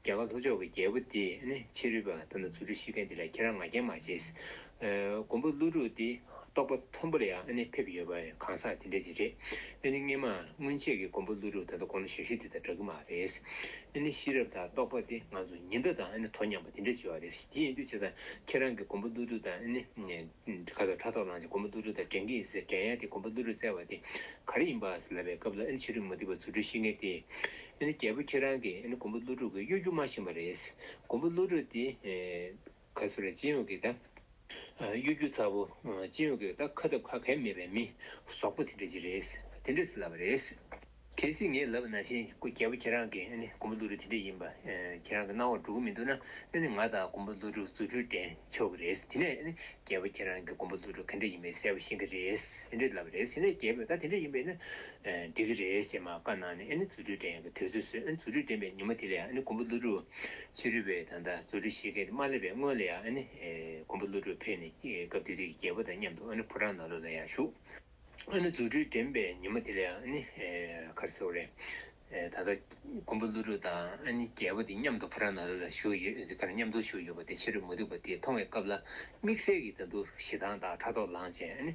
རྒྱ་གར་ལྷོ་ཕྱོགས་ཀྱི་རྒྱལ་པོ་དེས་ནི་ཕྱི་རོལ་པ་དང་ནི་རྫུ་འཕྲུལ་ཤེས་མཁན་དེ་ལ་ཁྱེད་རང་ང་རྒྱལ་མ་བྱེད། མགོན་པོ་ཀླུ་སྒྲུབ་དེ་རྟོགས་པ་མཐོན་པོ་ལ་ཡང་ནི་ཕེབས་ཡོད་པ་གང་ཟག་དེ་འདྲས་ཀྱི་རེད། འདི་ནི་སྔན་མ་སྔོན་ཆད་ཀྱི་མགོན་པོ་ཀླུ་སྒྲུབ་ད་ལྟ་གོང་ན་ཞབས་ཞུ་དེ་དང་འདྲ་གི་མ་རེད། འདི་ནི་ཤེས་རབ་དང་རྟོགས་པ་དེ་ང་ཚོ་ཉི་ཟླ་དང་ནི་དོ་མཉམ་པ་དེ་འདྲས་བྱེད་པ་རེད། དེ་ཡིན་དུས་བྱས་ཙང་ཁྱེད་རང་གིས་མགོན་པོ་ཀླུ་སྒྲུབ་དང་ནི་ག་ལ་ཕྲག་དོག་ལངས་ཀྱི་མགོན་པོ་ཀླུ་སྒྲུབ་དང་འགྲན་གྱི་ཟེར་འགྲན་ཡ་དེ་མགོན་པོ་ཀླུ་སྒྲུབ་བཙལ་བ་དེ་ག་རེ་ཡིན་པ་ཟེར་ལབ་པའི་སྐབས་ལ་ནི་ཕྱི་རོལ་མུ་སྟེགས་པ་རྫུ་འཕྲུལ་ཤེས་མཁན་དེས་ཨེ་ནི་རྒྱལ་པོ་ཁྱེད་རང་གིས་ཨེ་ནི་མགོན་པོ་ཀླུ་སྒྲུབ་ཀྱི་གཡོ་སྒྱུ་མ་བཞེངས་པ་རེད། མགོན་པོ་ཀླུ་སྒྲུབ་དེ། ག་སུ་རེད་སྤྱི་ཡོངས་ཀྱི་ད། གཡོ་སྒྱུ་ཚ་བོ། སྤྱི་ཡོངས་ཀྱི་ད་ཁ་སྟབས་ཁ་གལ་མེད་པའི་མི། ཟོག་པོ་དེ་འདྲ་ཅིག་རེད། དེ་འདྲས་སུ་ལབ་པ་རེད། གལ་སྲིད་ངས་ལབ་པ་ན་བཞིན་རྒྱལ་པོ་ཁྱེད་རང་གིས་ཨེ་ནི་མགོན་པོ་ཀླུ་སྒྲུབ་དེ་འདྲས་ཡིན་པ། ཁྱེད་རང་གི་སྣང་བར་འགྲོ་གི་མི་འདུག་ན། ཨེ་ནི་ང་དང་མགོན་པོ་ཀླུ་སྒྲུབ་རྫུ་འཕྲུལ་ལྡན་ཆོག་གི་རེད། དེ་ནས་ཨེ་ནི་རྒྱལ་པོ་ཁྱེད་རང་གི་མགོན་པོ་ལུག་ཁྱུ་ག་འདྲས་ཡིན་པའི་གསལ་བོ་ཤེས་ཀྱི་རེད། ཟེར་འདྲས་ལབ་རེད་ཟེར་ནས་རྒྱལ་པོས་ད་དེ་འདྲས་ཡིན་པས་ན། འགྲིག་གི་རེད་ཞེས་མ་བཀའ་གནང་ནས་ཨེ་ནི་རྫུ་འཕྲུལ་ལྡན་གྱི་དུས་ཚོད་ཟོས་ཨེ་ནི་རྫུ་འཕྲུལ་ལྡན་པའི་ཉིན་མོ་དེ་ལས་ཨེ་ནི་མགོན་པོ་ཀླུ་སྒྲུབ། ཕྱི་རོལ་པའི་ད་ལྟ་རྫུ་འཕྲུལ་ཤེས་མཁན་དེ་མ་སླེབས་པའི་སྔོན་ལ་ཡང་ཨེ་ནི། མགོན་པོ་ཀླུ་སྒྲུབ་ཕེབས་ནས་སྐབས་དེ་དུས་ཀྱི་རྒྱལ་པོ་དང་མཉམ་དུ་ཨེ་ནི་ཕོ་བྲང་ནང་ལུག་ལ་ཡར་ཞུགས། ཨ་ནི་རྫུ་འཕྲུལ་འགྲན་པའི་ཉིན་མོ་དེ་ལས་ཨ་ནི་གར་སེའོ་རེད། ད་ལྟ་མགོན་པོ་ཀླུ་སྒྲུབ་དང་ཨ་ནི་རྒྱལ་པོ་དེ་མཉམ་དུ་ཕོ་བྲང་ནང་ལ་བཞུགས་ཡོད་ཀར་མཉམ་དུ་བཞུགས་ཡོད་པ་དེ་ཕྱི་རོལ་མུ་སྟེགས་པ་དེས་མཐོང་བའི་སྐབས་ལ་དམིགས་བསལ་གྱིས་ད་འདུ་ཞེ་སྡང་དང་ཕྲག་དོག་ལངས་བྱས་ཨ་ནི་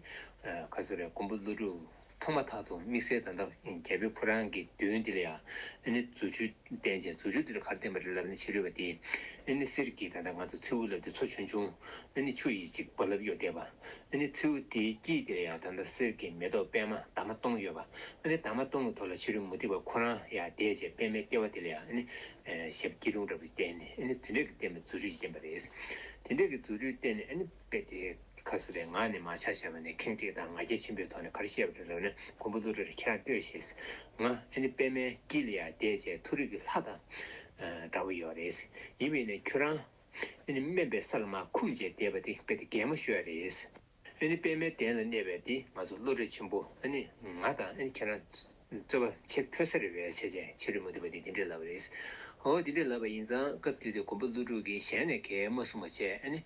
གར་སེའོ་རེད་མགོན་པོ་ཀླུ་སྒྲུབ་མཐོང་མ་ཐག་ཏུ་དམིགས་བསལ་ད་ལྟ་རྒྱལ་པོའི་ཕོ་བྲང་གི་མདུན་དེ་ལ་ཡང་ཨ་ནི་རྫུ་འཕྲུལ་བསྟན་བྱས་རྫུ་འཕྲུལ་དེ་ལ་གར་བསྟན་པ་རེད་ལབ་ནས་ཕྱི་རོལ་པ་དེས་ཨ་ནི་གསེར་གྱི་ད་ལྟ་ང་ཚོ་མཚེའུ་ལབ་སྟེ་མཚོ་ཆུང་ཆུང་ཨ་ནི་ཆུ་ཡིས་ཅིག་བབ་ལབ་ཡོད་བསྡད་པ། འདི་ནི་མཚེའུ་དེའི་དཀྱིལ་དེར་ཡང་ད་ལྟ་གསེར་གྱི་མེ་ཏོག་པད་མ་དྭངས་མ་སྟོང་ཡོད་པ། འདི་དྭངས་མ་སྟོང་གི་ཐོག་ལ་ཕྱི་རོལ་མུ་ཏིག་པ་ཁོ་རང་ཡང་དེའི་རྗེས་པད་མའི་ལྟེ་བ་དེ་ལ་ཡང་ཞབས་སྐྱིལ་ཀྲུང་འདྲ་བོ་ཞིག་བསྟན་ནས་རྫུ་འཕྲུལ་གྱིས་བསྟན་པའི་རྫུ་འཕྲུལ་གྱིས་བསྟན་པ་རེད། དེ་འདྲ་གི་རྫུ་འཕྲུལ་བསྟན་ནས་དཔེ་དེ་ཁ་གསོ་བའི་ངག་ནས་མ་ཆགས་ཤར་བ་ནས་ཁེངས་དྲེགས་དང་ང་རྒྱལ་ཆེན་པོའི་ཐོག་ནས་གར་བཤད་པ་རེ་རོལ་ནས་མགོན་པོ་ཀླུ་སྒྲ་རེ་ཁྱེད་རང་ལྟོས་ཞེས་ང། པད་མའི་དཀྱིལ་ལ་ཡང་དེའི་རྗེས་མཐོ་རིས་ཀྱི་ལྷ་དང། འདྲ་བོ་ཡོད་རེད། ཡིན་པས་ནས་ཁྱོད་རང། ཨེ་ནི་དམན་པའི་ས་ལ་མ་འཁུམས་ཅེས་བཟླས་པ་འདི་དཔེ་དེ་གད་མོ་ཤོད་ཡ་རེད། ཨེ་ནི་པདྨའི་གདན་ལ་གནས་པའི་འདི་ང་ཚོ་བློ་གྲོས་ཆེན་པོ་ཨེ་ནི་ང་དང་ཨེ་ནི་ཁྱེད་རང། རྩོལ་བ་ཆེ་ཕོ་ས་རི་བའི་ཆ་ཅན་ཕྱི་རོལ་མུ་འདུག་པ་འདི་འདི་འདྲས་ལབ་པ་རེད། ཨོ་འདི་འདྲས་ལབ་པ་ཡིན་ཙང་སྐབས་དེ་དུས་མགོན་པོ་ཀླུ་སྒྲུབ་ཀྱིས་གཞན་ནས་གད་མོ་གསུངས་པ་བཅས་ཨེ་ནི།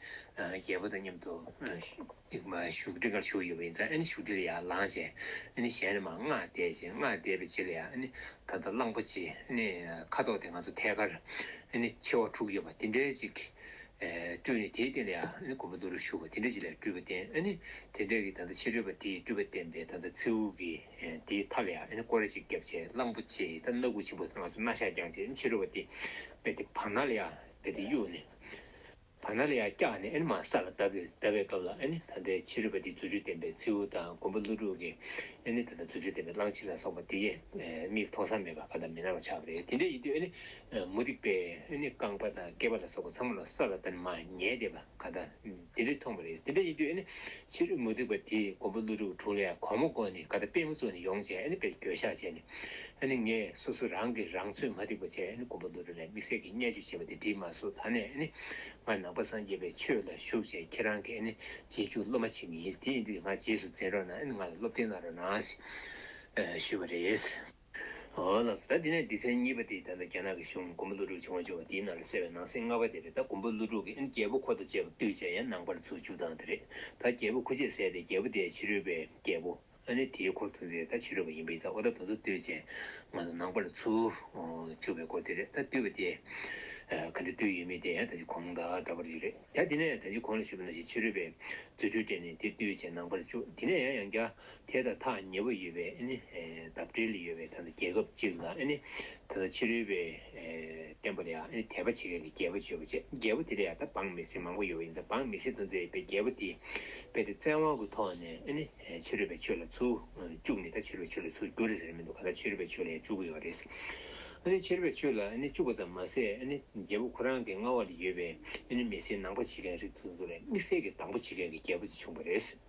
རྒྱལ་པོ་དང་མཉམ་དུ། ཨིག་མ་བཞུགས་ཁྲི་འགར་བཞུགས་ཡིན་པ་ཡིན་ཙང་ཨེ་ནི་བཞུགས་ཁྲི་ལ་ཡང་ལངས་བྱས་ཨེ་ནི་གཞན་རེ་མ་སྔགས་བཟླས་བྱས་སྔགས་བཟླས་པའི་རྗེས་ལ་ཡང་ཨེ་ནི་ད་ལྟ་གླང་པོ་ཆེ་ཨེ་ནི་ཁ་དོག་དེ་ང་ཚོ་ཐད་ཀར་ཨེ་ནི་མཆེ་བ་དྲུག་ཡོད་པ་དེ་འདྲའི་ཅིག་སྤྲུལ་ནས་དེའི་སྟེང་ལ་ཡང་ཨེ་ནི་མགོན་པོ་འདུག་ལ་བཞུགས་པ་དེ་འདྲའི་ཅིག་ལ་སྤྲུལ་པ་བསྟན་ཨེ་ནི་དེ་འདྲའི་གིས་ད་ལྟ་ཕྱི་རོལ་པ་དེའི་སྤྲུལ་པ་བསྟན་པས་ད་ལྟ་མཚེའུ་གི་དེའི་མཐའ་ལ་ཡང་ཨེ་ནི་ཀོ་ར་ཅིག་བརྒྱབ་བྱས་གླང་པོ་ཆེ་ད་སྣ་དགུ་ཆེན་པོ་ང་ཚོ་སྣ་ཤ་རྒྱག་བྱས་ཨེ་ནི་ཕྱི་རོལ་པ་དེ་པས་དེ་བར་སྣང་ལ་ཡང་བས་དེ་གཡོགས་ནས། བ་ན་ལ་ཡ་སྐྱག་ནི་ཨེ་ནི་མ་ས་ལ་དབ་ཏེ་ཟླ་བའི་སྐབས་ལ་ཨེ་ནི་ད་ལྟའི་ཕྱི་རོལ་པ་འདི་རྫུ་འཕྲུལ་ལྡན་པའི་མཚེའུ་དང་མགོན་པོ་ཀླུ་སྒྲུབ་ཀྱི་ཨེ་ནི་ད་ལྟ་རྫུ་འཕྲུལ་ལྡན་པའི་གླང་ཆེན་ལ་སོགས་པ་འདི་མིག་མཐོང་སར་མེད་པར་བ་དང་མི་སྣང་བར་ཆགས་པ་རེད་དེ་འདྲའི་ཡིད་དུ་ཨེ་ནི་མུ་སྟེགས་པས་ཨེ་ནི་རྐང་པ་དང་སྐེད་པ་ལ་སོགས་པ་ཚང་མ་ལ་ས་ལ་ད་ནི་མ་ཉལ་བསྡད་པ་ག་ད་འདི་འདྲས་མཐོང་བ་རེད་དེ་འདྲའི་ཡིད་དུ་ཨེ་ནི་ཕྱི་རོལ་མུ་སྟེགས་པ་དེས་མགོན་པོ་ཀླུ་སྒྲུབ་དྲུང་ལས་གོང་མ་བསྐོ་ནས་ག་ད་པད་མོ་བཙོང་ནས་ཡོང་བྱས་ཨ་ནི་པས་འགྱོད་བཤགས་བྱས་ནས་ཨ་ནི་ངས་སོ་སོ་རང་གིས་རང་ཚོད་མ་སྟེགས་པ་བྱས་ཨ་ནི་མགོན་པོ་ཀླུ་སྒྲུབ་ལས་དམིགས་བསལ་གྱི་བརྙས་བཅོས་བྱས་པ་དེ་འདྲིས་མ་སོ་ད་ནས་ཨ་ནི་ང་ནང་པ་སངས་རྒྱས་པའི་ཆོས་ལ་ཞུགས་བྱས་ཁྱེད་རང་གིས་ཨ་ནི་རྗེས་འཇུག་སློབ་མ་བྱེད་ངེས་ཡིན་དེ་ཡིན་དུས་ང་རྗེས་སུ་འཛིན་རོགས་གནང་ཨ་ནི་ང་ལ་སློབ་སྟོན་གནང་རོགས་གནང། ཞུས་པ་རེད། ལ་སོགས་ད་དེ་ནས་སྡེ་ཚན་གཉིས་པ་དེ་ད་ལྟ་རྒྱ་ནག་གི་གཞུང་མགོན་པོ་ཀླུ་སྒྲུབ་ཆེན་བོ་ཆེ་བ་དེའི་ནང་ལ་གསལ་བའི་ནང་གསེས་ལྔ་པ་དེ་རེད་ད་མགོན་པོ་ཀླུ་སྒྲུབ་ཀྱི་ཨིན་རྒྱལ་པོ་ཁོ་དང་བཅས་པ་བཏུད་བྱས་ཡང་ནང་པར་ཚུར་བཅུག་སྟངས་དེ་རེད་ད་རྒྱལ་པོ་ཁུ་ཆེས་བསད་དེ་རྒྱལ་པོ་དེ་ཕྱི་རོལ་པའི་རྒྱལ་པོ་ཨ་ནི་དེའི་འཁོར་དུ་འཛིན་ད་ཕྱི་རོལ་པ་ཡིན་པ་ཡིན་ད་ཨོ་ད་དོ་དོ་བཏུད་བྱས་ང་ཚོ་ནང་པར་ཚུར་བཅུག་པའི་སྐོར་དེ་རེད་ད་བཏུད་པ་དེ་ག་འདྲ་བཏུད་ཡོད་མེད་དེ་ཡང་ད་ཅི་གོང་ད་འདྲ་པར་ཡོད་རེད་ད་དེ་ནས་ད་ཅི་གོང་ལ་ཞུ་བ་ན་ཞིག་ཕྱི་རོལ་པའི་རྫུ་འཕྲུལ་སྤྲད་ནས་དེ་བཏུད་བྱས་ནང་པར་བཅུག་དེ་ནས་ཡང་ཡང་རྒྱ་དེ་དང་ཐག་ཉེ་བོ་ཡོད་པའི་འདབས་འབྲེལ་ཡོད་པའི་རྒྱལ་ཁབ་ཅིག་ལ་ཕྱི་རོལ་པའི་བསྟན་པ་ལས་དད་པ་བྱེད་མཁན་གྱི་རྒྱལ་པོ་བྱོས་པ་བྱས། རྒྱལ་པོ་དེ་ལ་ཡང་འབངས་མི་སེར་མང་པོ་ཡོད་པ་ཡིན་ཙང་འབངས་མི་སེར་དུ་མཛད་པའི་རྒྱལ་པོ་དེས་དཔེ་དེ་བཙན་དབང་གི་ཐོག་ནས་ཕྱི་རོལ་པའི་ཆོས་ལ་ཚུར་བཅུག་ནས་ད་ཕྱི་རོལ་པའི་ཆོས་ལ་ཚུར་བསྒྱུར་ཟེར་མི་འདུག་ག་ད་ཕྱི་རོལ་པའི་ཆོས་ལ་ཡང་བཅུག་གི་ཡོད་པ་རེད། ཕྱི་རོལ་པའི་ཆོས་ལ་བཅུག་པ་ཙམ་མ་ཟད་རྒྱལ་པོ་ཁོ་རང་གི་མངའ་འོག་ལ་ཡོད་པའི་མི་སེར་ནང་པ་བྱེད་མཁན་རིགས་དང་དམིགས་བསལ་གྱི་དང་པོ་བྱེད་མཁན་གྱི་རྒྱལ་པོ་དེ་བྱུང་བ་རེད།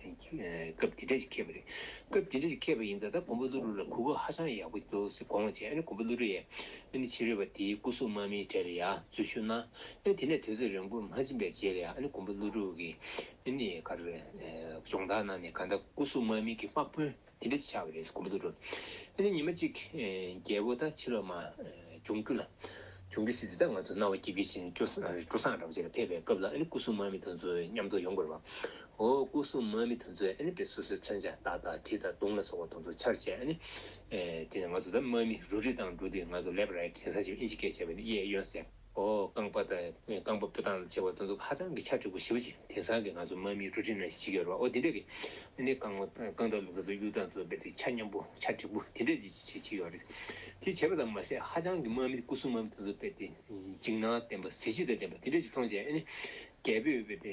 སྐབས་འདི་འདྲ་ཞིག་ཁེལ་བ་རེད། སྐབས་འདི་འདྲ་ཞིག་ཁེལ་བ་ཡིན་ད་ལྟ་གོང་བུ་ཀླུ་རུ་ལ་གུས་པ་ཧ་ཅང་ཡག་པོ་འདུག་ཟེར་དགོངས་བ་བྱས་ཨ་ནི་གོང་བུ་ཀླུ་རུ་ཡས་ཨ་ནི་ཕྱི་རོལ་བ་དེའི་སྐུ་གཟུགས་དམར་མིན་གྲས་ལ་ཡག་རྫུན་ཞུ་ན་ཨ་ནི་དེ་ནས་དུས་ཚོད་རིང་པོར་མ་ཕྱིན་པའི་རྗེས་ལ་ཡང་ཨ་ནི་གོང་བུ་ཀླུ་རུ་གིས་ཨ་ནི་གར་སྦྱོང་བརྡར་གནང་ནས་ག་ད་སྐུ་གཟུགས་དམར་མིན་གྱི་དམག་དཔོན། དེ་འདྲ་ཆགས་ཀྱི་རེད་སྐུ་མདོག་དྲོ། དེ་ནས་ཉི་མ་གཅིག། རྒྱལ་པོ་དང་ཕྱི་ལོགས་མ། འབྱུང་རྒྱུ་ལ། འབྱུང་རྒྱུ་སྲིད་དེ་དག་ང་ཚོ་རྣ་བ་སྐྱིད་པའི་ཕྱིར་སྐྱོ། སྐུ་སངས་རབ་རྗེས་ལ་ཕེབས་པའི་སྐབས་ལ་སྐུ་གསུམ་མར་མེ་དང་མཚུངས་མཉམ་དུ་ཡོང་དགོས་རེད་པ། འོ་སྐུ་གསུམ་མར་མེ་དང་མཚུངས་པས་སོ་སོའི་མཚོན་ཆ་རྟ་དང་གྲི་དང་དུང་ལ་སོགས་པ་དང་དུ་ཆར་བྱས། དེ་ནས་ང་ཚོ་དང་མར་མེ་རུ་རི་དང་འགྲོ་དུས་ང་ཚོ་ལེབ་རེད་ཞེས་ས་ཆེན་པོ་ཨིན་ཇི་སྐད་བྱས་པ་ནི་གཡས་གཡོན་གསལ། ཨོ་རྐང་པ་དང་རྐང་པ་སྤུ་དང་བཅས་པ་དང་དུ་ཧ་ཅང་གི་ཆ་འགྲིག་པོ་ཞིག་རེད་དེང་སང་གི་ང་ཚོ་དམག་མིའི་འབྲུ་རིགས་ནང་བཞིན་ཡོད་རེད་པ་ཨོ་དེ་འདྲ་གི་ནི་རྐང་རྐང་དང་ལུག་དང་གཡུ་དང་ཚོ་དཔེ་དེ་ཆ་མཉམ་པོ་ཆ་འགྲིག་པོ་དེ་འདྲ་ཅིག་བྱེད་ཀྱི་ཡོད་རེད་དེ་བྱས་པ་ཙམ་མ་ཟད་ཧ་ཅང་གི་དམག་མི་སྐུ་གསུམ་མམ་དང་ཚོ་དཔེ་དེ་འཇིགས་སྣང་ལྡན་པ་གཟི་བརྗིད་དང་ལྡན་པ་དེ་འདྲ་ཅིག་མཐོང་བྱས་ཨ་ནི་རྒྱལ་པོས་དཔེ་དེ་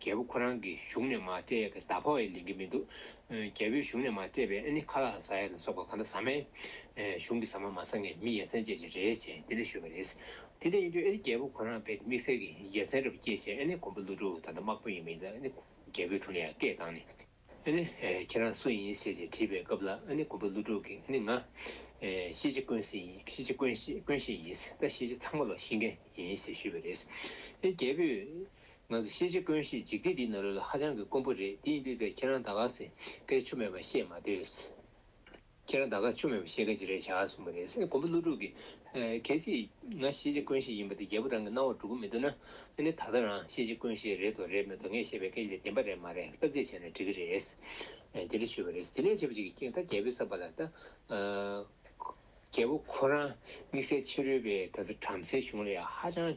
རྒྱལ་པོ་ཁོ་རང་གི་གཞུང་ནས་མ་བལྟས་ཀྱི་ཟླ་ཕོག་ཡས་ལེན་གྱི་མི་འདུག། རྒྱལ་པོའི་གཞུང་ནས་མ་བལྟས་པས་ཨ་ནི་ཁ་ལག་ཟ་ཡས་ལ་སོགས་པ་གང་འདྲ་ཟ་མའི་གཞུང་གི་ཟ་མ་མ་ཟ་ངས་མི་ཡ་མཚན་སྐྱེད་བྱེད་རེད་ཅེས་དེ་འདྲ་ཞུས་པ་རེད། དེ་འདྲ་ཡིན་དུས་ཨ་ནི་རྒྱལ་པོ་ཁོ་རང་བལྟས་ཏེ་དམིགས་བསལ་གྱི་ཡ་མཚན་རེ་བ་སྐྱེད་བྱས་ཨ་ནི་མགོན་པོ་ཀླུ་སྒྲུབ་ད་ལྟ་དམག་དཔོན་ཡིན་མིན་ཟ་ཨ་ནི་རྒྱལ་པོའི་དྲུང་ནས་ཡ་སྐད་བཏང་ནས། ཨ་ནི། ཁྱེད་རང་སུ་ཡིན་ཞེས་ཅེས་དྲིས་པའི་སྐབས་ལ་ཨ་ནི་དགུ་པ་ཀླུ་སྒྲུབ་ཀྱིས་ཨ་ནི་ང། ཤེས་བྱ་ཀུན་གཞི་ཡིན། ཤེས་བྱ་ཀུན་གཞི་ཀུན་གཞི་ཡིན། ད་ཤེས་བྱ་ཚང་མ་ལ་ཤེས་མཁན་ཡིན་ཞེས་ཞུས་པ་རེད། ཨེ་རྒྱལ་པོས། ང་ཚོ་ཤེས་བྱ་ཀུན་གཞི་འཇིག་རྟེན་འདིའི་ནང་ལོས་ལ་ཧ་ཅང་གི་དཀོན་པོ་རེད་དེ་ཡིན་པའི་སྐད་ཁྱེད་རང་ད་ག་ཟེ་སྐད་ཆུ་མེད་པ་བཤད་མ་སྡོད། ཁྱེད་རང་ད་ག་ཆོ་མེད་པ་ཤེས་ག་ཅི་རེད་བྱ་གསུངས་པ་རེད་སེམས་གོང་བུ་ཀླུ་སྒྲུབ་ཀྱི། གལ་སྲིད། ང་ཤེས་བྱའི་ཀུན་ཤེས་ཡིན་པ་དེ་རྒྱལ་པོ་རང་གི་སྣང་བར་གྲུབ་ཀྱི་མི་འདུག་ན། ཨེ་ནས་ད་ལྟ་རང་ཤེས་བྱའི་ཀུན་ཤེས་རེད་དོ་རེད་མེད་དོ་ངས་བཤད་པའི་སྐད་ཆ་དེ་བདེན་པ་རེད་མ་རེད་བསམ་གཟས་བྱས་ནས་དྲི་གི་རེད། དེ་འདྲ་ཞུས་པ་རེད་དེ་འདྲ་བྱས་པ་ཅིག་གིས་ད་རྒྱལ་པོའི་བསམ་པ་ལ་ད། རྒྱལ་པོ་ཁོ་རང་དམིགས་བསལ་ཕྱི་རོལ་པའི་ད་ལྟ་བྲམ་ཟེའི་གཞུང་ལ་ཡང་ཧ་ཅང།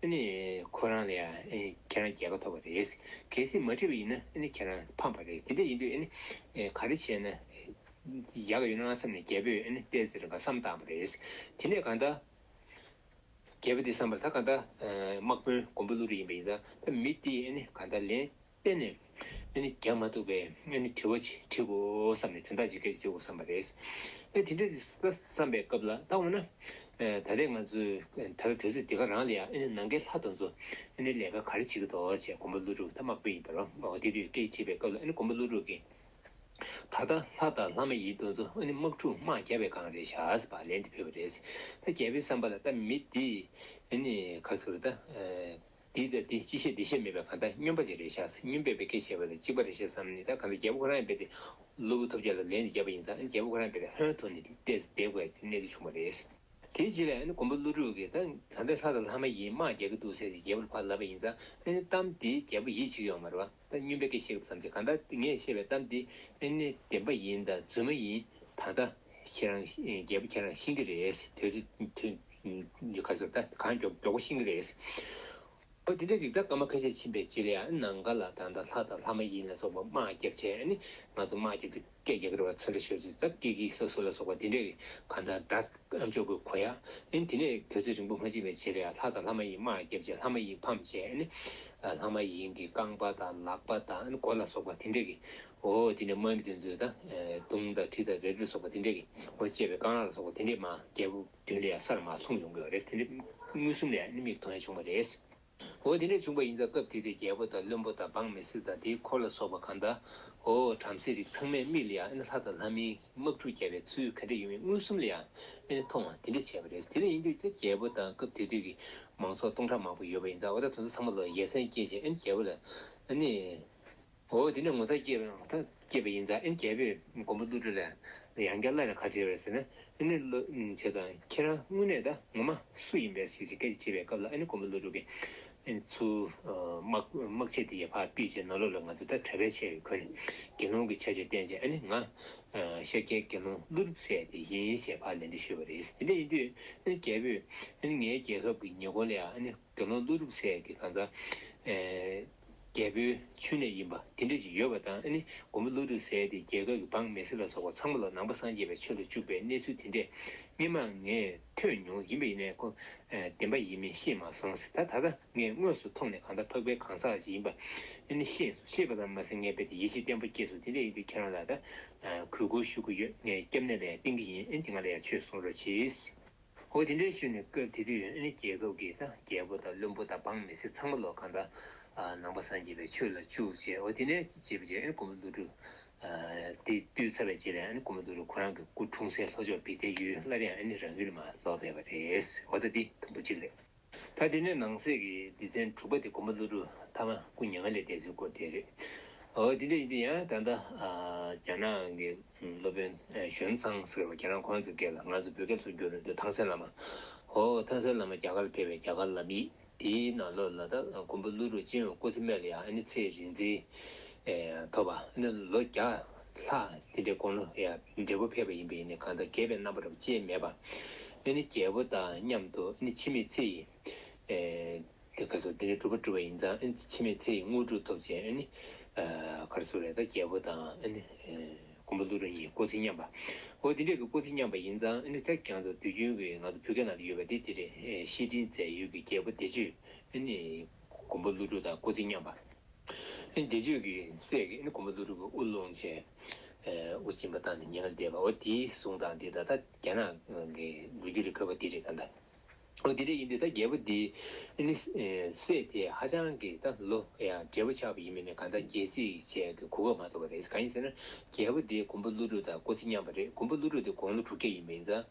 ནི། ཁོ་རང་ལ་ཡང་ཁྱེད་རང་རྒྱལ་ཁ་ཐོབ་པ་རེད། གལ་སྲིད་མ་བྲིས་པ་ཡིན་ན་ཁྱེད་རང་ཕམ་པ་རེད། དེ་འདྲ་ཡིན་དུས་ག་རེ་བྱས་ན་ཡག་ཡོད་ན་བསམ་ནས་རྒྱལ་པོས་བལྟས་ཟེར་ག་བསམ་བཏང་བ་རེད། དེ་ནས་གང་ལྟར། རྒྱལ་པོ་དེས་བསམ་པར་ད་གང་ལྟར་དམག་དཔོན་མགོན་པོ་ཀླུ་རི་ཡིན་པ་ཡིན་ཙང་ད་མི་དེས་གང་ལྟར་ལན། བརྟེན་ནས། འདི་ནི་རྒྱག་མ་ཐུབ་པས་ནི་དྲི་བ་ཅིག་འདྲི་དགོས་བསམ་ནས་དོན་དག་ཅིག་སྐད་ཅིག་བརྗོད་དགོས་བསམ་པ་རེད། དེ་འདྲ་ཅིག་བསམ་པའི་སྐབས་ལ་ལྟ་འོ་ན། ད་ལྟའི་ང་ཚོས་ད་ལྟ་དུས་ཚོད་འདི་ག་རང་ལ་ཡང་ནང་ཁའི་ལྷ་དང་ཚོ། ལས་ཀ་ག་རེ་བྱེད་ཀྱི་འདུག་ཅེས་དགོན་པ་ཀླུ་སྒྲུབ་ཐ་མག་པོ་ཡིན་པ་ལ་དེ་དུས་སྐད་ཅིག་དྲིས་པའི་སྐབས་ལ་དགོན་པ་ཀླུ་སྒྲུབ་ཀྱིས། ད་ལྟ་ལྷ་དང་ལྷ་མ་ཡིན་དང་ཚོ་ནི་དམག་འཁྲུག་དམག་བརྒྱ་པའི་སྒང་རེད་ཞེས་པ་ལན་དེ་ཕུལ་བ་རེད། ད་རྒྱལ་པོའི་བསམ་པ་ལ་ལྟ་མི་འདིས། ག་ཚོད་རེད་ད། དེའི་ཚེ་དེ་ཅི་ཤེས་འདི་ཤེས་མེད་པས་གང་ལྟར་སྨྱོན་པ་ཅིག་རེ་བཞག་སྨྱོན་པས་པའི་སྐད་བྱས་པ་དེ་གཅིག་པ་རེ་བྱས་སམ་ནི་ད་གང་ལྟར་རྒྱལ་པོ་ཁོ་རང་ཡང་དཔེ་དེ། སློབ་བུ་ཐོབ་བྱ་ལ་ལན་དེ་བརྒྱབ་པ་ཡིན་ཙང་རྒྱལ་པོ་ཁོ་རང་དཔེ་དེ་ཧོན་ཐོ་ནི་བལྟས་ཚེ་བདེ་དགོས་ཚེ་གནད་དུ་ཕྱུང་བ་རེད། དེའི་རྗེས་ལ་མགོན་པོ་ཀླུ་སྒྲུབ་ཀྱིས་ད་ལྟ་ལྷ་དང་ལྷ་མ་ཡིན་དམག་རྒྱག་གི་འདུག་ཟེར་ཅིང་རྒྱལ་པོར་བར་ལབ་པ་ཡིན་ཙང་རྟམ་དེས་རྒྱལ་པོ་ཡིད་ཆེས་ཀྱི་ཡོང་མ་རེད་བ། ད་སྙུན་པའི་སྐད་བཤད་སྐབས་བསམ་ཚེ་གང་ལྟར་ངས་བཤད་པའི་གཏམ་དེ་དབེན་གནས་བདེན་པ་ཡིན་དང་རྫུན་མ་ཡིན་ད་ལྟ་ཁྱེད་རང་རྒྱལ་པོ་ཁྱེད་རང་ཤེས་ཀྱི་རེད་དེ་ཚོས་ག་ཚོད་ད་གང་མགྱོགས་མགྱོགས་པོ་ཤེས་ཀྱི་རེད། འོ་དེ་འདྲ་རིགས་ད་སྐར་མ་ཁ་ཤས་ཕྱིན་པའི་རྗེས་ལ་ཡང་ནང་དགའ་ལ་ད་ལྟ་ལྷ་དང་ལྷ་མ་ཡིན་ལ་སོགས་པ་དམག་རྒྱབ་བྱས་ནི་ང་ཚོ་དམག་རྒྱབ་ཏུ། སྐད་རྒྱག་གི་རེད་བ་ཚར་རེ་ཤོད་ཟིག་ཙག་སྐད་གིག་ས་སུ་ལ་སོགས་པ་དེ་འདྲས་གི་གང་ལྟར་བདག་ཨ་མཆོག་གི་གོ་ཡག་ལན་དེ་ནས་དུས་ཚོད་རིང་པོ་མ་བྱིན་པའི་ཕྱིར་ལ་ལྷ་དང་ལྷ་མ་ཡིན་དམག་བརྒྱབ་ཅིང་ལྷ་མ་ཡིན་ཕམ་བྱས་ནས་ལྷ་མ་ཡིན་གི་རྐང་པ་དང་ལག་པ་དང་མགོ་ལ་སོགས་པ་དེ་འདྲས་གི་འོ་དེ་ནས་དམག་མི་དེ་ཚོས་དང་དུང་དང་ཁྲི་དང་རེབ་རེབ་སོགས་པ་དེ་འདྲས་གི་འོ་བཅས་པའི་རྐང་ལག་ལ་སོགས་པ་དེ་འདྲས་དམག་རྒྱབ་བདུན་ལས་སར་མ་ལྷུང་ཡོང་གི་རེད་དེ་འདྲས་དངུལ་གསུམ་ལས་མིག་མཐོང་ཡང་ཆུང་བ་རེད། འོ་དེ་འདྲ་བྱུང་བ་ཡིན་ཙང་སྐབས་དེ་དུས་རྒྱལ་པོ་དང་བློན་པོ་དང་འབངས་མི་སྲིད་དང་དེའི་འཁོར་ལ་སོགས་པ་གང་དག་འོ་བྲམ་ཟེའི་རིགས་ཚང་མས་མིག་ལ་ཡང་ཨེ་ན་ལྷ་དང་ལྷ་མིན་དམག་འཁྲུག་བརྒྱབ་པའི་ཚུལ་ག་འདྲ་ཡིན་མིན་མངོན་སུམ་ལ་ཡང་ཨེ་ན་མཐོང་ངོ་དེ་འདྲ་བྱས་པ་རེད་དེ་འདྲ་ཡིན་དུས་ཀྱང་རྒྱལ་པོ་དང་སྐབས་དེ་དུས་ཀྱི་མང་ཚོགས་སྟོང་ཕྲག་མང་པོ་ཡོད་པ་ཡིན་ཙང་འོ་ད་དོན་དུ་ཚང་མ་ལོ་ཡས་ཚན་སྐྱེས་ཤིང་ཨེ་ན་རྒྱལ་པོ་ལ་ཨེ་ནས། འོ་དེ་ནི་ངོ་ཚ་སྐྱེས་པའང་ཐ་སྐྱེས་པ་ཡིན་ཙང་ཨེ་རྒྱལ་པོས་མགོན་པོ་ཀླུ་སྒྲུབ་ལ་ཡང་བསྐྱར་སླར་ཡང་ཁ་བྲལ་བས་ཟེར་ན་ཨེ་ནི་བློ་བྱས་ཙང་ཁྱེད་རང་དངོས་གནས་ད་ངོ་མ་སུ་ཡིན་པས་ཞེས་ཀྱི་སྐད་ཅིག་བྱས་པའི་སྐབས་ལ་ཨེ་ནི་མགོན་པོ་ཀླུ་སྒྲུབ་ཀྱིས་ཚུལ། དམག་ཆས་འདི་ཡི་བག་པིས་བྱས་ན་བློ་ལ་ང་ཚོ་ད་གྲྭ་པའི་ཆས་ཡོད་ཁོ་ནས་དགེ་སློང་གི་ཆ་བྱས་བསྟན་བྱས་ཨེ་ནི་ང་ཤཱ་ཀྱའི་དགེ་སློང་ཀླུ་སྒྲུབ་སྲས་དེ་ཡིན་ཞེས་བག་ལན་འདི་ཞུས་པ་རེད་དེ་འདྲ་ཡིན་དུས་ཨེ་ནི་རྒྱལ་པོས་ཨེ་ནི་ངའི་རྒྱལ་ཁབ་ཀྱི་ཉེ་འཁོར་ལ་ཡང་ཨེ་ནི། དགེ་སློང་ཀླུ་སྒྲུབ་སྲས་ཀྱི་གང་ཟག། རྒྱལ་པོའི་མཆུ་ནས་ཡིན་པ་དེ་འདྲ་ཅིག་ཡོད་པ་དང་ནི་མགོན་པོ་ཀླུ་སྒྲུབ་སྲས་དེ་རྒྱལ་ཁབ་ཀྱི་འབངས་མི་སེར་ལ་སོགས་པ་ཚང་མ་ལ་ནང་པ་སངས་རྒྱས་པའི་ཆོས་ལ་སྤྱུགས་པའི་གནས་ཚུལ་དེ་འདྲས་སྨིན་མ་ངས་ཐོས་མྱོང་ཡིན་པས་ཡིན་ནའི་ཁོ་བདེན་པ་ཡིན་མིན་ཤེས་མ་སོང་ཟེར་ད་ད་ལྟ་ངས་དངོས་སུ་མཐོང་ནས་གང་ཟག་འཕགས་པའི་གང་ཟག་ཅིག་ཡིན་པ་ནི་ཤེས་སོ་ཤེས་པ་ཙམ་མ་ཟད་ངས་རྦད་དེ་ཡིད་ཆེས་བརྟན་པོ་སྐྱེས་སོ་དེ་འདྲས་ཡིན་དུས་ཁྱེད་རང་ལ་ད་གུས་བཀུར་ཞུ་གི་ཡོད་ངས་སྐྱབས་གནས་ལས་བསྟེན་གི་ཡིན་ཨེ་འདི་ང་ལ་ཡང་ཆོས་གསུང་རོགས་གྱིས། ཧོ་དེ་འདྲའི་ཤུལ་ནས་སྐབས་དེ་དུས་ཨིན་ལི་རྒྱལ་ཁབ་ཀྱི་རྒྱལ་པོ་དང་བློན་པོ་དང་འབངས་མི་སེར་ཚང་མ་ལོ་གང་དང་ནང་པ་སངས་རྒྱས་པའི་ཆོས་ལ་བཅུག་རྗེས་ཧོ་དེ་འདྲའི་བྱེད་པ་བྱས་ཨིན་ཀུ་མུ་ཏུ་རུ་དེ་དུས་ཚར་བའི་རྗེས་ལ་ཨིན་ཀུ་མུ་ཏུ་རུ་ཁོ་རང་གི་སྐུ་འཁྲུངས་སའི་ལྷོ་ཕྱོགས་བི་ཏའི་ཡུལ་སླར་ཡང་ཨིན་ལི་རང་ཡུལ་ལ་མ་ལོག་པས་པ་རེད་ཧོ་ད་འདི་དང་པོ་གཅིག་རེད། ད་དེ་ནས་ནང་གསེས་ཀྱི་སྡེ་ཚན་དྲུག་པ་དེ་དགོན་པ་ཀླུ་སྒྲུབ་ཐ་མ་སྐུ་མྱ་ངན་ལས་འདས་ཚུལ་སྐོར་དེ་རེད། འོ་དེ་འདྲ་ཡིན་དུས་ཡང་ད་ལྟ་རྒྱ་ནག་གི་སློབ་དཔོན་གཞོན་ཚང་ཟེར་བ་ཁྱེད་རང་ཁོང་ཚོའི་སྐད་ལ་ང་ཚོ་བོད་སྐད་ཚུར་བསྒྱུར་འདོད་ཐང་སན་བླ་མ། ཧོ་ཐང་སན་བླ་མ་རྒྱ་གར་ཕེབས་པའི་རྒྱ་གར་ལམ་ཡིག་དེའི་ནང་ལོ་ལ་ད་དགོན་པ་ཀླུ་སྒྲུབ་སྤྱན་འོས་སྐུ་ཚེ་སྨད་ལ་ཡང་ཨ་ནི་ཚེ་རིང་འཛིན་ཐོབ་པ་ཨ་ནི་ལོ་བརྒྱ་ལྷ། དེ་འདྲའི་དགོངས་ཀློང་ཡང་འབྲས་བུ་འཕེལ་བ་ཡིན་པས་ནི་གང་དག་གེགས་པའི་རྣམ་པ་རབ་བཅས་མེད་པ། ཨེ་ནི་རྒྱལ་པོ་དག་སྙམ་དུ་ཨེ་ནི་འཆི་མེད་ཚེ་ཡི། ཨེ། གལ་སྲིད་དེ་འདྲའི་གྲུབ་པ་འགྲུབ་པ་ཡིན་ཙང་ཨེ་ནི་འཆི་མེད་ཚེ་ཡི་དངོས་གྲུབ་ཐོབ་ཅེས་ཨེ་ནི། གར་སོང་རེས་གཟའ་རྒྱལ་པོ་དང་ཨེ་ནི། མགོན་པོ་ཀླུ་སྒྲུབ་གཉིས་སྐུ་ཚེ་མཉམ་པ། འོ་དེ་འདྲའི་སྐུ་ཚེ་མཉམ་པ་ཡིན་ཙང་ཨེ་ནི་དེར་གྱང་དུ་དུས་རྒྱུན་གྱི་ནང་དུ་བུ་ག་ན་དུ་ཡོད་པ་འདི་དེ་རེད་ཤེས་སྤྲིན་མཛད་ཡུལ་གྱི་རྒྱལ་པོ་བདེ་སྤྱོད་ཨེ་ནི། མགོན་པོ་ཀླུ་སྒྲུབ་དང་སྐུ་ཚེ་མཉམ་པ། ཨེ། བཟླས་བརྗོད་ཀྱི་སྲས་ཀྱི་ཨེ། མགོན་པོ་ཀླུ་སྒྲུབ་ཨུ་ལོང་ཅན། ཨུ། སྦྱིན་པ་བཏང་ནས་ཉེ་ལ་བསྡད་པ་ཨོ། དེའི་གཟུངས་དང་འདི་ད་ལྟ་རྒྱ་ནག་གི་འགུལ་རྒྱུ་རེད་བོད་པ་འདི་རེད་ད། ཨོ་འདི་རེད་ཡིན་འདི་ད་རྒྱལ་པོ་འདི། ཨེ་ནི། སྲས་དེ་ཧ་ཅང་གི་ད་ལོ། ཡང་འབྲས་བུ་ཆགས་པ་ཡིན་མིན་ནི་གང་ལྟར་རྒྱལ་སྲིད་བྱས་ཀྱི་གོ་སྐབས་མ་ཐོབ་པ་རེད་གང་ཡིན་ཟེར་ན། རྒྱལ་པོ་འདི་མགོན་པོ་ཀླུ་སྒྲུབ་དང་སྐུ་ཚེ་མཉམ་པ་རེད་མགོན་པོ་ཀླུ་སྒྲུབ་འདི་དགུང་ལོ་དྲུག་བརྒྱ་ཡིན་མིན་ཙང།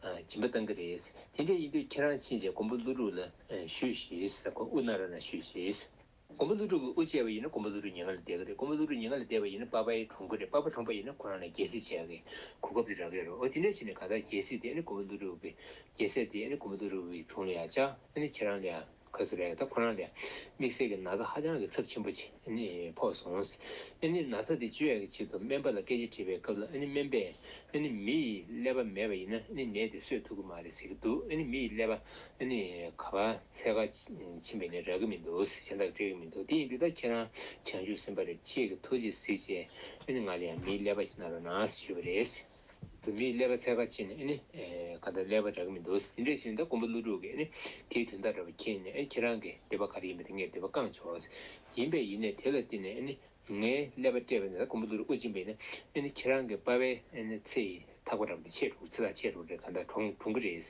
སྦྱིན་པ་གཏང་གི་རེད། དེ་འདྲ་ཡིན་དུས་ཁྱེད་རང་ཕྱིན་ཆད་གོང་བུ་ཀླུ་སྒྲུབ་ལ་བཞུད་ཤིས་ཟེར་གོང་དབུ་ནག་ར་ལ་ཞུས་ཤིས། གོང་བུ་ཀླུ་སྒྲུབ་ཀྱི་དབུ་བཅད་པ་ཡིན་ན་གོང་བུ་ཀླུ་སྒྲུབ་ཉེ་ང་ལ་བསྡད་གི་རེད་གོང་བུ་ཀླུ་སྒྲུབ་ཉེ་ང་ལ་བསྡད་པ་ཡིན་ན་པ་པའི་གྲོང་ཁུལ་རེད་པ་པ་གྲོང་པ་ཡིན་ན་ཁོ་རང་ལ་རྒྱལ་སྲིད་བྱས་གི་གོ་སྐབས་དེ་རག་གི་རོ་འོ་དེ་འདྲ་ཕྱིན་ནས་གང་ལྟར་རྒྱལ་སྲིད་དེ་ཨ་ནི་གོང་བུ་ཀླུ་སྒྲུབ་ཀྱི་རྒྱལ་སྲས་དེ་ཨ་ནི་གོང་བུ་ཀླུ་སྒྲུབ་ཀྱི་དྲུང་ལ་ཡང་བཅའ་ཨ་ནི་ཁྱེད་རང་ལ་ཡང། ག་ཟེ་རེད་ད་ཁོ་རང་ལས་དམིགས་བསལ་གྱི་ན་ཚ་ཧ་ཅང་གི་ཚབས་ཆེན་པོ་ཕོག་སོང། ཨཱ་ནི་ན་ཚ་དེ་བཅོས་ཡག་གི་ཆེད་དུ་སྨན་པ་ལ་སྐད་ཆ་དྲིས་པའི་སྐབས་ལ་ཨཱ་ནི་སྨན་པས་ཨཱ་ནི་མི་ཡི་ཀླད་པ་མེད་པ་ཡིན་ན་ཨཱ་ནི་ནད་དེ་གསོད་ཐུབ་གི་མ་རེད་ཟེར་གི་འདུག་ཨཱ་ནི་མི་ཡི་ཀླད་པ་ཨཱ་ནི་ག་པ་ཚད་ཁ་ཕྱིན་པའི་ནད་རག་གི་མི་འདུག་གཞན་དག་འདྲེས་གི་མི་འདུག་དེ་ཡིན་དུས་ད་ཁྱེད་རང་བྱང་ཆུབ་སེམས་པ་རེད་ཁྱེད་ཀྱི་ཐུགས་རྗེ་གཟིགས་རྗེས་ཨཱ་ནི་ང་ལ་ཡང་མིའི་ཀླད་པ་ཞིག་ན་རོ་ན་ཞུས་པ་རེད། དེ་མི་ཀླད་པ་ཚད་ཁ་ཕྱེ་ནས་ག་འདྲ་ཀླད་པ་འདྲ་གི་མི་འདུག་ཟིན་འདྲ་ཞིག་ད་ཀོང་པོ་ཀླུ་སྒྲུག་གིས་དེའི་དོན་དག་འདྲ་བ་མཁྱེན་ནས་ཁྱེད་རང་གི་འདོད་པ་ག་རེ་ཡིན་པ་དེ་ངས་འདོད་པ་བསྐང་ཆོག་ཡིན་པས་ཡིན་ནས་དེ་ལ་བརྟེན་ནས་ངའི་ཀླད་པ་སྤྲད་པ་ནི་ད་ཀོང་པོ་ཀླུ་སྒྲུག་དབུ་འབྱིན་པ་ཡིན་ན་ཁྱེད་རང་གི་དཔའ་བའི་ཚེ་ཡི་ཐག་པ་འདྲ་བ་འདི་ཆད་འགྲོ་ཚེ་ཐག་ཆད་འགྲོ་རེད་ག་འདྲ་གྲོང་གྲོང་གི་རེད་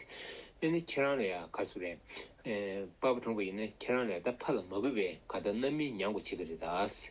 ཁྱེད་རང་ལ་ཡང་ག་སུ་རེད་དཔའ་བོ་གྲོང་གི་ཡིན་ན་ཁྱེད་རང་ལ་ད་ཕ་ལ་མ་བུ་བས་ག་འདྲ་རྣམ་སྨིན་མྱང་དགོ་བྱེད་གི་རེད་ད།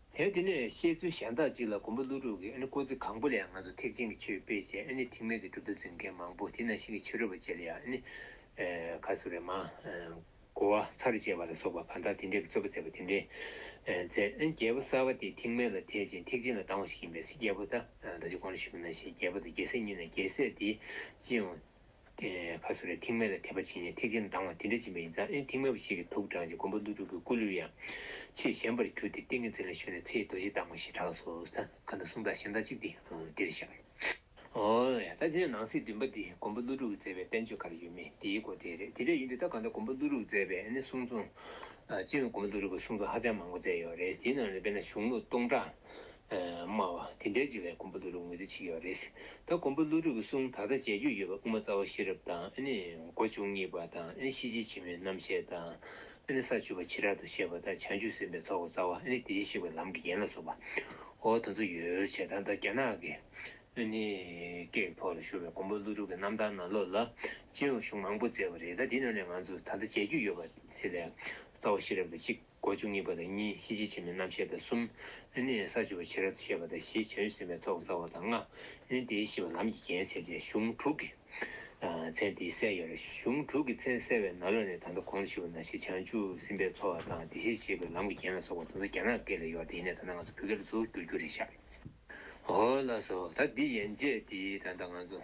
དེ་དེ་ནས་བཤད་ཚུལ་གཞན་དག་ཅིག་ལ་གོམ་པ་ཀླུ་དྲུག་གིས་ཨ་ནི་ཀོ་ཙི་གང་པོ་ལ་ཡང་ང་ཚོ་ཐེག་ཆེན་གྱི་ཆོས་སྤེལ་བྱས་ཨ་ནི་ཐེག་དམན་གྱི་གྲུབ་མཐའ་འཛིན་མཁན་མང་པོ་དེ་ན་ཤི་ཁའི་ཕྱི་རོལ་པ་བཅས་ལ་ཡང་ཨ་ནི། ཁ་སུ་རེ་མ། གོ་བ་ཚར་བཅས་པ་ལ་སོགས་པ་གང་དག་དེ་འདྲས་ཀྱི་རྩོད་པ་མཛད་པ་དེ་འདྲས། མཛད། རྒྱལ་པོ་གསར་བ་དེ་ཐེག་དམན་ལ་དད་ཅིང་ཐེག་ཆེན་ལ་སྡང་བ་ཞིག་ཡིན་པས་སྲིད་རྒྱལ་པོ་ད་ད་ཅི་དགོངས་ན་ཞུས་པ་ན་ཞེས་རྒྱལ་པོ་དང་རྒྱལ་སྲས་གཉིས་ན་རྒྱལ་སྲས་དེས་ཅི་ཡང། དེ་ནས་ཁ་སོ་རས་ཐིག་མེ་ལ་དེད་པ་བྱིན་ནས་ཐིག་ཆེན་ལྡང་བ་དེ་འདྲ་བྱིན་པ་ཡིན་ཙང་ཨེ་ཐིག་མེ་བ་ཞིག་གིས་དུག་དྲངས་ཅིང་མགོན་པོ་ཀླུ་སྒྲུབ་ཀྱི་སྐུ་ལུས་ཡང་ཕྱིར་བཞེངས་པར་གྱུར་ཏེ་ཏིང་ངེ་འཛིན་ལ་ཞུགས་ནས་ཚེའི་རྡོ་རྗེ་བཏང་ངོ་ཞེས་གྲགས་སོ། ས་ག་ན་གསུམ་དང་གཞན་དག་གཅིག་འདིར་བཞག། ད་ལྟའི་ནང་གསེས་བདུན་པ་འདི་མགོན་པོ་ཀླུ་སྒྲུབ་ཀྱིས་མཛད་པའི་བསྟན་བཅོས་ག་རེ་ཡོད་མེད་དེའི་སྐོར་དེ་རེད་དེ་འདྲ་ཡིན་དུས་ད་ག་ད་མགོན་པོ་ཀླུ་སྒྲུབ་ཀྱིས་མཛད་པའི་གསུང་རྩོམ། སྤྱིར་མགོན་པོ་ཀླུ་སྒྲུབ་ཀྱི་གསུང་རྩོམ་ཧ་ཅང་མང་པོ་མཛད་ཡོད་རེད་དེའི་ནང་ནས་དཔེར་ན་གཞུང་ལུགས་སྟོང་ཕྲག། སྨྲ་བ། དེ་འདྲའི་བྱེད་ལས་ཀོང་པོ་བློ་ལུགས་ངོས་འཛིན་བྱེད་ཀྱི་བ་རེད། ད་ཀོང་པོ་བློ་ལུགས་ཀྱི་གསུང་ད་ལྟ་མཇལ་རྒྱུ་ཡོད་པ་དབུ་མ་རྩ་བ་ཤེས་རབ་དང་སྒོ་བཅུ་གཉིས་པ་དང་ཤེས་བྱའི་ཕྱི་མའི་རྣམ་བཤད་དང་ས་བཅུ་པ་ཕྱི་རབ་ཏུ་བཤད་པ་དང་བྱང་ཆུབ་སེམས་དཔའི་ཚོགས་རྩ་བ་དེ་བཞིན་གཤེགས་པའི་ལམ་གྱི་ཡན་ལག་སོགས་པ། འོ་དོ་ཚོ་ཡོད་བྱས་ད་ལྟ་རྒྱ་ནག་གི་སྐད་ཐོག་ལ་ཤོར་བའི་ཀོང་པོ་བློ་ལུགས་ཀྱི་རྣམ་ཐར་ནང་ལོགས་ལ་སྤྱིར་ལོ་གཞུང་མང་པོ་བསྩལ་བ་རེད་ད་འདི་རྣམས་ལས་ང་ཚོས་ད་ལྟ་མཇལ་རྒྱུ་ཡོད་པ་ཚེ་ལས་རྩ་བ་ཤེས་རབ་དང་གཅིག། སྒོ་བཅུ་གཉིས་པ་དང་གཉིས་གཤིན་རྗེ་ཆེན་མོའི་རྣམ་ཤེས་དང་གསུམ། ནི་ས་བཅུ་པོ་ཕྱི་རབས་སུ་བཤད་པ་དང་བཞི་བྱང་ཡུལ་སེམས་དཔའི་ཚོགས་རྩ་བ་དང་ལྔ། ནི་དེའི་ཤི་བ་ལམ་གྱི་རྒྱན་བྱས་ཏེ་གཞུང་དྲུག་གི། མཚན་དེའི་སྲས་ཡོད་ལ་གཞུང་དྲུག་གི་མཚན་གསལ་བས་ན་ལོ་ནས་ད་ལྟ་གོང་དུ་ཤི་བ་ན་ཤི་བྱང་ཆུབ་སེམས་དཔའི་ཚོགས་བ་དང་དེ་བཞིན་གཤེགས་པའི་ལམ་གྱི་རྒྱན་ལ་སོགས་པ་དང་ས་རྒྱ་ནག་སྐད་ལས་ཡོར་དེའི་གནས་ད་ལྟ་ང་ཚོ་བོད་སྐད་ལ་ཚུར་བསྒྱུར་རྒྱུ་རེད་ཤག། ཧོ་ལ་སོ། ད་འདི་ཡན་ཆད་འདིའི་ད་ལྟ་ང་ཚོ།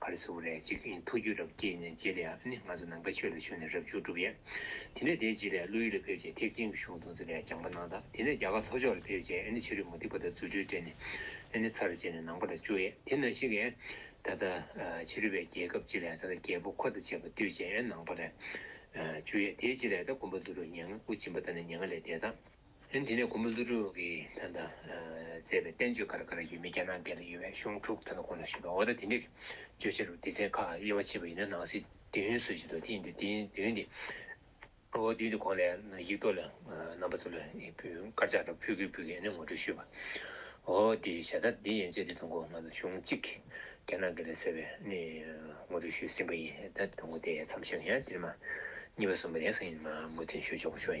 ག་རེ་ཟུག་རེད་ཅིག་ཨིན་ཐུགས་རྒྱུད་རབ་བསྐྱེད་ནས་རྗེས་དེ་ཡང་ནི་ང་ཚོ་ནང་པའི་ཆོས་ལ་ཞུགས་ནས་རབ་བྱུང་གྲུབ་ཡས། དེ་ནས་དེའི་རྗེས་ལས་ཀླུ་ཡུལ་ལ་ཕེབས་རྗེས་ཐེག་ཆེན་གྱི་གཞུང་དུང་ཙི་ལས་སྦྱངས་པ་གནང་ད་དེ་ནས་རྒྱ་གར་ལྷོ་ཕྱོགས་ལ་ཕེབས་རྗེས་ཨེ་ནི་ཕྱི་རོལ་མུ་ཏིག་པ་དང་རྫུ་འཕྲུལ་སྤྲད་ནས་ཨེ་ནི་ཚར་བཅད་ནས་ནང་པ་ལ་བཅུག་ཡས་དེ་ན་ཞིག་ཨེ། ད་ལྟ། ཕྱི་རོལ་པའི་རྒྱལ་ཁབ་ཅིག་ལས་ད་ལྟ་རྒྱལ་པོ་ཁོ་དང་བཅས་པ་བཏུལ་རྗེས་ཨེ་ནང་པ་ལ་བཅུག་ཡས་དེའི་རྗེས་ལས་ད་དགོན་པ་འདུ་རུ་ཉེ་ང་དབུ་འབྱིན་པ་ད་ནི་ཉེ་ང་ལས་འདས་ད། ལན། དེ་ནས་མགོན་པོ་ཀླུ་སྒྲུབ་ཀྱིས་ད་ལྟ་མཛད་པའི་བསྟན་བཅོས་ག་རེ་ག་རེ་ཡོད་མེད་རྒྱ་ནག་འགལ་ལ་ཡོད་པའི་གཞུང་དྲུག་ད་ལྟ་གོང་ན་བཞུགས་པའི་འོ་ད་དེ་འདྲའི་བརྗོད་བྱ་རུ་སྡེ་ཚན་ཁག་དབྱེ་བ་ཕྱེས་པ་ཡིན་ན་ནང་གསེས་བདུན་ཡོད་ཚོད་ཅིག་འདུག་དེ་ཡིན་དུས་དེ་བདུན་དེ་འོ་བདུན་དེ་གོང་ལས་ཡིག་ཐོག་ལ་རྣམ་པ་ཚོ་ལ་དཀར་ཆག་འདྲ་ཕུལ་གི་ཕུལ་གི་ངོ་སྤྲོད་ཞུས་པ་འོ་དེ་ཞྭ་ད་དེ་ཡན་ཆད་དེ་ཐོ་འགོ་ང་ཚོ་གཞུང་གཅིག་རྒྱ་ནག་འགལ་ལ་ཟེར་བའི་ངོ་སྤྲོད་ཞུས་ཟིན་པ་ཡིན་ད་ཐོ་འགོ་དེ་མཚམས་བཞག་ཡང་དེ་མ་གཉིས་པ་གསུམ་པ་ཡང་སང་ཉིན་མ་མུ་མཐུན་ཞུ་ཆོག་པ་ཤོག་ཡིན།